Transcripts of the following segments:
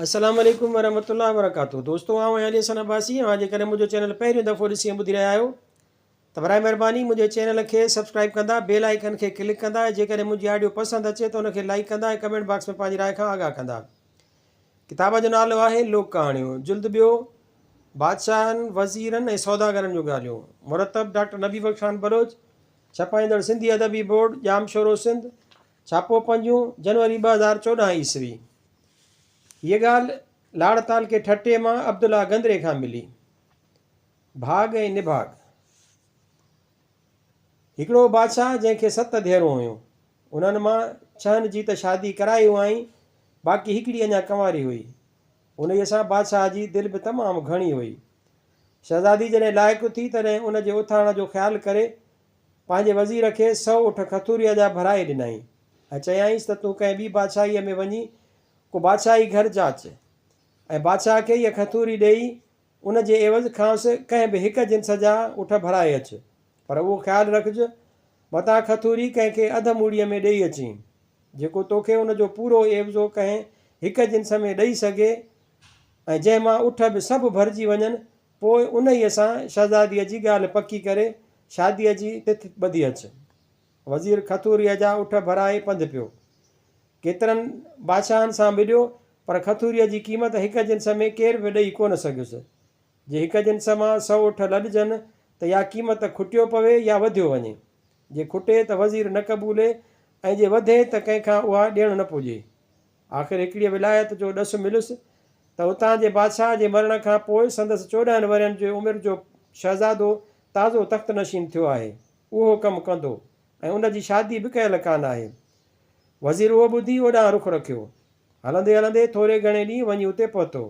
السلام عليڪم ورحمة الله وبرڪاته دوستو آئون آهيان علي حسن عباسي اوهان جيڪڏهن منهنجو چينل پهريون دفعو ڏسي ۽ ٻڌي رهيا آهيو ته برائي مهرباني منهنجي چينل کي سبسڪرائب ڪندا بيل آئيڪن کي ڪلڪ ڪندا ۽ جيڪڏهن منهنجي آڊيو پسند اچي ته ان کي لائيڪ ڪندا ۽ ڪمينٽ باڪس ۾ پنهنجي راء کان آگاهه ڪندا ڪتاب جو نالو آهي لوڪ ڪهاڻيون جلد ٻيو بادشاهن وزيرن ۽ سوداگرن جون ڳالهيون مرتب ڊاڪٽر نبي بخش خان بلوچ ڇپائيندڙ سنڌي ادبي بورڊ ڄامشورو سنڌ ڇاپو پنجون جنوري ٻه هزار چوڏهن عيسوي هيء ڳالهه لاڙ تعلقي ٺٽي مان عبدالله گندري کان ملي. ڀاڳ ۽ نڀاڳ. هڪڙو هو بادشاهه جنهن کي ست ڌيئرون هيون. انهن مان ڇهن جي ته شادي ڪرائي هئائين، باقي هڪڙي اڃا ڪنواري هئي. انهيء سان بادشاهه جي دل به تمام گهڻي هئي. شهزادي جڏهن لائق ٿي، تڏهن ان جي اٿاڻ جو خيال ڪري پنهنجي وزير کي سؤ اٺ کٿوريء جا ڀرائي ڏنائين ۽ چيائينس ته تون ڪنهن ٻي بادشاهيء ۾ وڃي ڪو بادشاهي گهر جاچ ۽ بادشاهه کي هيء کٿوري ڏيئي ان جي عيوض کانئس ڪنهن به هڪ جنس جا اٺ ڀرائي اچ پر اهو خيال رکج متان کٿوري ڪنهن کي اڌ موڙيء ۾ ڏيئي اچين جيڪو توکي ان جو پورو عيوضو ڪنهن هڪ جنس ۾ ڏيئي سگهي ۽ جنهن مان اٺ به سڀ ڀرجي وڃن پوء انهيء سان شهزاديء جي ڳالهه پڪي ڪري شاديء جي تٿ ٻڌي اچ. وزير کٿوريء جا اٺ ڀرائي پنڌ پيو. ڪيترن بادشاهن سان ٻڏيو، پر کٿوريء جي قيمت هڪ جنس ۾ ڪير به ڏئي ڪونه سگهيس. جي هڪ جنس مان سؤ اٺ لڏجن ته يا قيمت کٽيو پوي يا وڌيو وڃي. جي کٽي ته وزير نه قبولي ۽ جي وڌي ته ڪنهن کان اها ڏيڻ نه پڄي. آخر هڪڙيء ولايت جو ڏس مليس ته اتان جي بادشاهه جي مرڻ کان پوء سندس چوڏهن ورهين جي عمر جو شهزادو تازو تخت نشين ٿيو آهي. اهو ڪم ڪندو ۽ ان جي شادي به ڪيل ڪانه آهي. وزير اهو ٻڌي اوڏانهن رخ رکيو. هلندي هلندي ٿوري گهڻي ڏينهن وڃي اتي پهتو.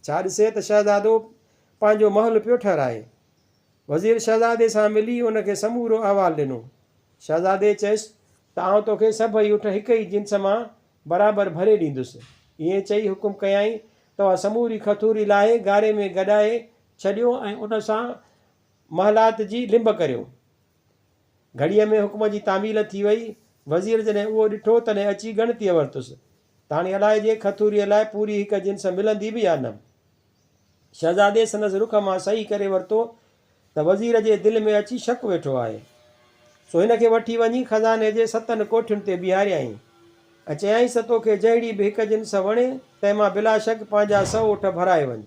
ڇا ڏسي ته شهزادو پنهنجو محل پيو ٺهرائي. وزير شهزادي سان ملي ان کي سمورو احوال ڏنو. شهزادي چيس. ته آئون توکي سڀئي اٺ هڪ ئي جنس مان برابر ڀري ڏيندس. ائين چئي حڪم ڪيائين، توهان سموري کٿوري لاهي گاري ۾ گڏائي ڇڏيو ۽ ان سان محلات جي لنب ڪريو. گهڙيء ۾ حڪم جي تعميل ٿي وئي. وزير جڏهن اهو ڏٺو، تڏهن اچي ڳڻتيء ورتس، ته هاڻي الائجي کٿوريء لاء پوري هڪ جنس ملندي به يا نه؟ شهزادي سندس رخ مان صحيح ڪري ورتو، ته وزير جي دل ۾ اچي شڪ ويٺو آهي، سو هن کي وٺي وڃي خزاني جي ستن ڪوٺين تي بيهاريائين ۽ چيائينس توکي جهڙي به هڪ جنس وڻي، تنهن مان بلاشڪ پنهنجا سؤ اٺ ڀرائي وڃ.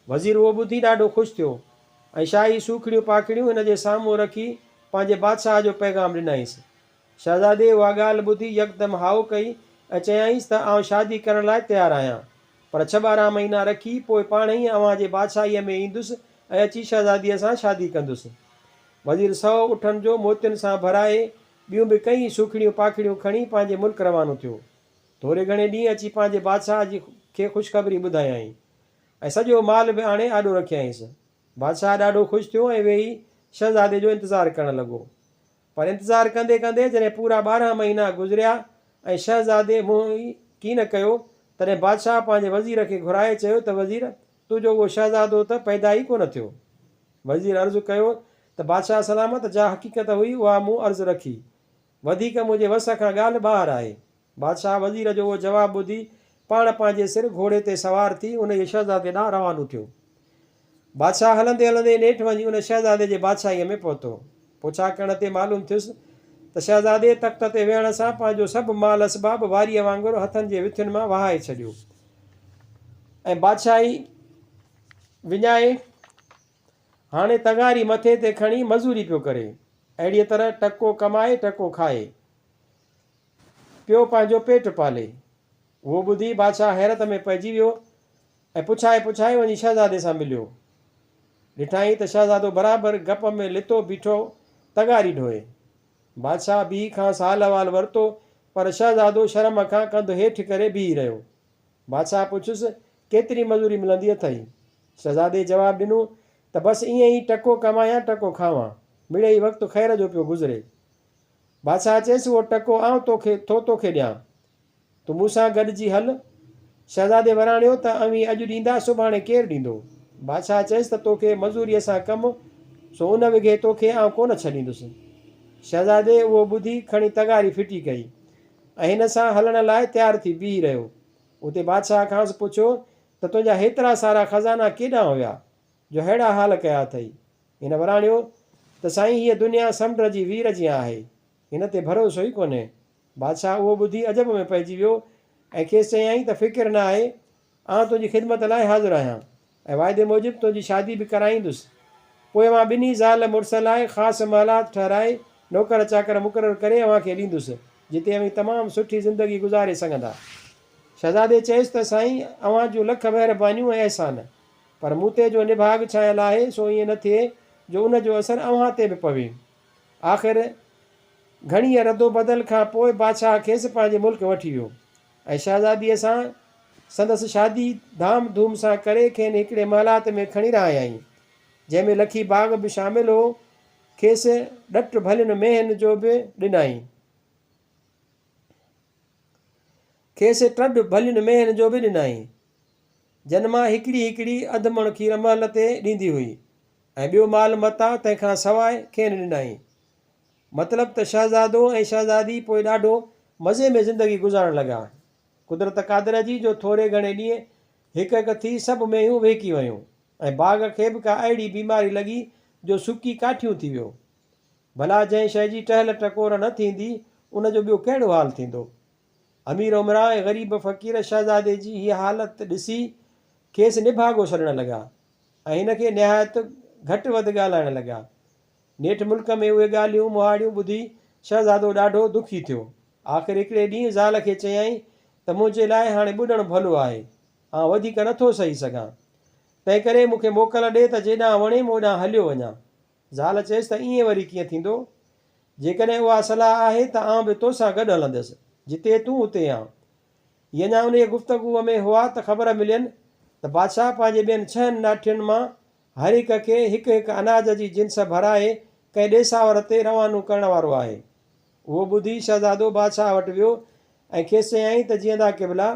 وزير اهو ٻڌي ڏاڍو خوش ٿيو ۽ شاهي سوکڙيون پاکڙيون هن جي سامهون رکي پنهنجي بادشاهه جو پيغام ڏنائينس شهزادي اها ڳالهه ٻڌي يڪدم هائو ڪئي ۽ چيائينس ته آئون شادي ڪرڻ لاء تيار آهيان، پر ڇهه ٻارهن مهينا رکي پوء پاڻ ئي اوهان جي بادشاهيء ۾ ايندس ۽ اچي شهزاديء سان شادي ڪندس. وزير سؤ اٺن جو موتين سان ڀرائي، ٻيون به ڪيئي سوکڙيون پاکڙيون کڻي پنهنجي ملڪ روانو ٿيو. ٿوري گهڻي ڏينهن اچي پنهنجي بادشاهه جي کي خوشخبري ٻڌايائين ۽ سڄو مال به آڻي آڏو رکيائينس. بادشاهه ڏاڍو خوش ٿيو ۽ ويهي شهزادي جو انتظار ڪرڻ لڳو. پر انتظار ڪندي ڪندي جڏهن پورا ٻارهن مهينا گذريا ۽ شهزادي منهن ئي ڪي نه ڪيو، تڏهن بادشاهه پنهنجي وزير کي گهرائي چيو ته وزير، تنهنجو اهو شهزادو ته پيدا ئي ڪونه ٿيو. وزير عرض ڪيو ته بادشاهه سلامت، جا حقيقت هئي اها مون عرض رکي. وڌيڪ منهنجي وس کان ڳالهه ٻاهر آهي. بادشاهه وزير جو اهو جواب ٻڌي پاڻ پنهنجي سر گهوڙي تي سوار ٿي انهيء شهزادي ڏانهن روانو ٿيو. بادشاهه هلندي هلندي نيٺ وڃي ان شهزادي جي بادشاهيء ۾ پهتو. پڇا ڪرڻ تي معلوم ٿيس ته شهزادي تخت تي ويهڻ سان پنهنجو سڀ مال اسباب واريء وانگر هٿن جي وٿين مان وهائي ڇڏيو ۽ بادشاهي وڃائي هاڻي تڱاري مٿي تي کڻي مزوري پيو ڪري. اهڙيء طرح ٽڪو ڪمائي ٽڪو کائي. پيو پنهنجو پيٽ پالي. اهو ٻڌي بادشاهه حيرت ۾ پئجي ويو ۽ پڇائي پڇائي وڃي شهزادي سان مليو. ڏٺائين ته شهزادو برابر گپ ۾ لتو بيٺو تغاري ڍوئي. بادشاهه بيهي کانئس حال احوال ورتو پر شهزادو شرم کان ڪنڌ هيٺ ڪري بيهي رهيو. بادشاهه پڇيس ڪيتري مزوري ملندي اٿئي؟ شهزادي جواب ڏنو ته بس ائين ئي ٽڪو ڪمايان ٽڪو کاوان. مڙئي وقت خير جو پيو گذري. بادشاهه چيس، اهو ٽڪو آئون توکي ٿو توکي ڏيان. تون مون سان گڏجي هل. شهزادي وراڻيو ته اوهين اڄ ڏيندا سڀاڻي ڪير ڏيندو؟ بادشاهه چيس ته توکي مزوريء سان ڪم سو ان وگهي توکي آئون ڪونه ڇڏيندس. شهزادي اهو ٻڌي کڻي تغاري ڦٽي ڪئي ۽ هن سان هلڻ لاء تيار ٿي بيهي رهيو. اتي بادشاهه کانئس پڇيو ته تنهنجا هيترا سارا خزانا ڪيڏانهن هيا جو ههڙا حال ڪيا اٿئي؟ هن وراڻيو ته سائين هيء دنيا سمنڊ جي وير جيان آهي، هن تي ڀروسو ئي ڪونهي. بادشاهه اهو ٻڌي عجب ۾ پئجي ويو ۽ کيس چيائين ته فڪر نه آهي، آئون تنهنجي خدمت لاء حاضر آهيان ۽ واعدي موجب تنهنجي شادي به ڪرائيندس. پوء اوهان ٻنهي زال مڙس لاء خاص محلات ٺهرائي نوڪر چاڪر مقرر ڪري اوهان کي ڏيندس، جتي اوهين تمام سٺي زندگي گذاري سگهندا. شهزادي چيس ته سائين اوهان جون لک مهربانيون ۽ احسان. پر مون تي جو نڀاڳ ڇانيل آهي سو ائين نه ٿئي جو ان جو اثر اوهان تي به پوي. آخر گهڻيء ردوبدل کان پوء بادشاهه کيس پنهنجي ملڪ وٺي ويو ۽ شهزاديء سان سندس شادي ڌام ڌوم سان ڪري کين هڪڙي محلات ۾ کڻي رهايائين جنهن ۾ لکي باغ به شامل هو کيس ڏٽ ڀلين مينهن جو به ڏنائين. کيس ٽڙ ڀلين ميهن جو به ڏنائين، جن مان هڪڙي هڪڙي اڌ مڻ کير مهل تي ڏيندي هئي ۽ ٻيو مال متاع تنهن کان سواء کين ڏنائين. مطلب ته شهزادو ۽ شهزادي پوء ڏاڍو مزي ۾ زندگي گذارڻ لڳا. قدرت قادره جي جو ٿوري گهڻي ڏينهن هڪ هڪ ٿي سڀ مينهيون وهڪي ويون ۽ باغ کي به ڪا اهڙي بيماري لڳي جو سڪي ڪاٺيون ٿي ويو. ڀلا جنهن شيء جي ٽهل ٽڪور نه ٿيندي ان جو ٻيو ڪهڙو حال ٿيندو؟ امير امراء ۽ غريب فقير شهزادي جي هيء حالت ڏسي کيس نڀاڳو سڏڻ لڳا ۽ هن کي نهايت گهٽ وڌ ڳالهائڻ لڳا. نيٺ ملڪ ۾ اهي ڳالهيون مهاڙيون ٻڌي شهزادو ڏاڍو دکي ٿيو. آخر هڪڙي ڏينهن زال کي چيائين ته منهنجي لاء هاڻي ٻڏڻ ڀلو آهي. آئون وڌيڪ نٿو سهي سگهان. تنهنڪري مون کي موڪل ڏي ته جيڏانهن وڻيم اوڏانهن هليو وڃان. زال چيس ته ائين وري ڪيئن ٿيندو؟ جيڪڏهن اها صلاح آهي ته آئون به تو سان گڏ هلندس. جتي تون اتي آن. هي اڃا انهيء گفتگوء ۾ هئا ته خبر ملين ته بادشاهه پنهنجي ٻين ڇهن ناٺين مان هر هڪ کي هڪ هڪ اناج جي جنس ڀرائي ڪنهن ڏيساور تي روانو ڪرڻ وارو آهي. اهو ٻڌي شهزادو بادشاهه وٽ ويو ۽ کيس چيائين ته جيئندا قبلا!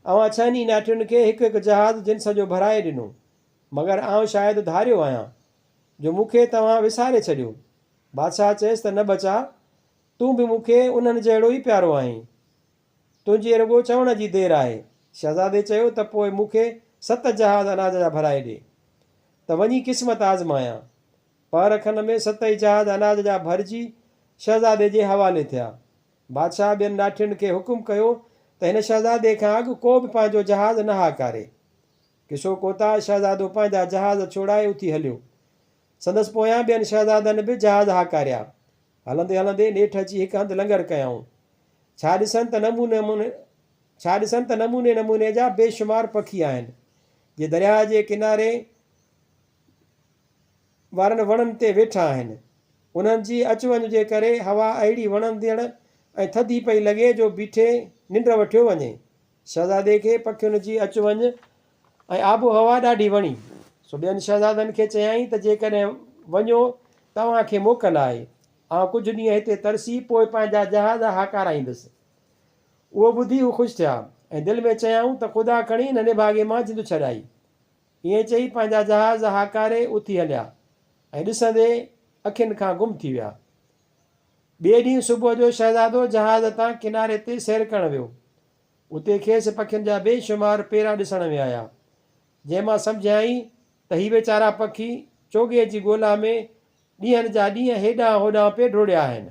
اوهان ڇهن ئي ناٺين کي هڪ هڪ جهاز جنس جو ڀرائي ڏنو. مگر آئون شايد ڌاريو آهيان. جو مون کي توهان وساري ڇڏيو. بادشاهه چيس ته نه ٻچا، تون به مون کي انهن جهڙو ئي پيارو آهين. تنهنجي رڳو چوڻ جي دير آهي. شهزادي چيو ته پوء مون کي ست جهاز اناج جا ڀرائي ڏي ته وڃي قسمت آزمايان. پهر کن ۾ ستئي جهاز اناج جا ڀرجي شهزادي جي حوالي ٿيا. بادشاهه ٻين ڏاٺين کي حڪم ڪيو ته هن شهزادي کان اڳ ڪو به پنهنجو جهاز نه هاڪاري. ڪشو ڪوتاهه شهزادو پنهنجا جهاز ڇوڙائي اٿي هليو. سندس پويان ٻين شهزادن به جهاز هاڪاريا. هلندي هلندي نيٺ اچي هڪ هنڌ لنگر ڪيائون. ڇا ڏسن ته نموني ڇا ڏسن ته نموني نموني جا بي شمار پکي آهن، جي درياء جي ڪناري وارن وڻن تي ويٺا آهن. انهن جي اچ وڃ جي ڪري هوا اهڙي وڻندڙ ۽ ٿڌي پئي لڳي جو بيٺي ننڊ وٺيو وڃي. شهزادي کي پکين جي اچ وڃ ۽ آبهوا ڏاڍي وڻي، سو ٻين شهزادن کي چيائين ته جيڪڏهن وڃو ته اوهان کي موڪل آهي، آئون ڪجهه ڏينهن هتي ترسي پوء پنهنجا جهاز هاڪارايندس. اهو ٻڌي هو خوش ٿيا ۽ دل ۾ چيائون ته خدا کڻي هن نڀاڳي مان جند ڇڏائي. ائين چئي پنهنجا جهاز هاڪاري اٿي هليا ۽ ڏسندي اکين کان گم ٿي ويا. ٻئي ڏينهن صبح جو شهزادو جهاز تان ڪناري تي سير ڪرڻ ويو. اتي کيس پکين جا بي شمار پيرا ڏسڻ ۾ آيا، جنهن مان سمجهيائين ته هي ويچارا پکي چوڳي جي ڳولا ۾ ڏينهن جا ڏينهن هيڏانهن هوڏانهن پئي ڊوڙيا آهن.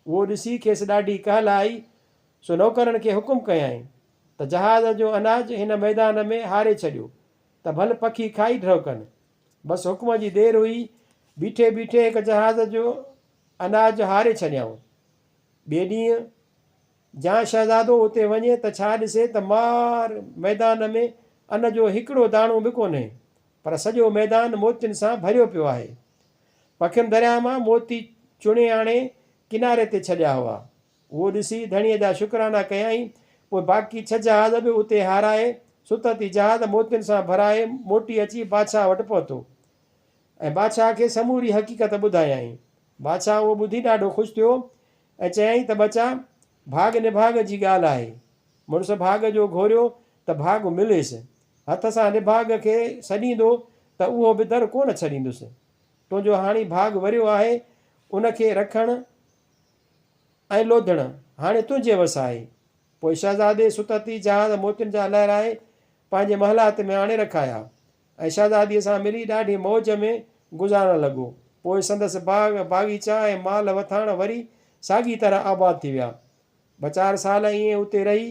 اهو ڏسي کيس ڏاڍي ڪهل آئي، سو نوڪرن کي حڪم ڪيائين ته جهاز جو اناج هن ميدان ۾ هاري ڇڏيو ته ڀل پکي کائي ڍؤ ڪن. بس حڪم جي دير هئي، بيٺي بيٺي هڪ جهاز جو اناج هاري ڇڏيائون. ٻئي ڏينهن جيان شهزادو اتي وڃي ته ڇا ڏسي ته مار ميدان ۾ ان جو هڪڙو داڻو به ڪونهي، پر سڄو ميدان موتين سان ڀريو پيو آهي. پکين درياهه مان موتي چڻي آڻي ڪناري تي ڇڏيا هئا. اهو ڏسي ڌڻيء جا شڪرانا ڪيائين. پوء باقي ڇهه جهاز به اتي هارائي، ستت ئي جهاز موتين سان ڀرائي موٽي اچي بادشاهه وٽ پهتو ۽ بادشاهه کي سموري حقيقت ٻڌايائين. بادشاهه اهو ٻڌي ڏاڍو خوش ٿيو ۽ چيائين ته ٻچا! ڀاڳ نڀاڳ جي ڳالهه آهي. مڙس ڀاڳ جو گهوريو ته ڀاڳ مليس. هٿ سان نڀاڳ کي سڏيندو ته اهو به در ڪونه ڇڏيندس. تنهنجو هاڻي ڀاڳ وريو آهي، ان کي رکڻ ۽ لوڌڻ هاڻي تنهنجي وس آهي. پوء شهزادي ستتي جهاز موتين جا لهرائي پنهنجي محلات ۾ آڻي رکايا، ۽ شهزاديء سان ملي ڏاڍي موج ۾ گذارڻ لڳو. پوء سندس باغ، باغيچا ۽ مال وٿاڻ وري ساڳي طرح آباد ٿي ويا. ٻه چار سال ائين اتي رهي،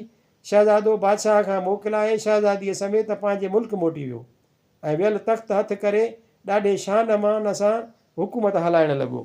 شهزادو بادشاهه کان موڪلائي شهزاديء سميت پنهنجي ملڪ موٽي ويو، ۽ ويل تخت هٿ ڪري ڏاڍي شان مان ان سان حڪومت هلائڻ لڳو.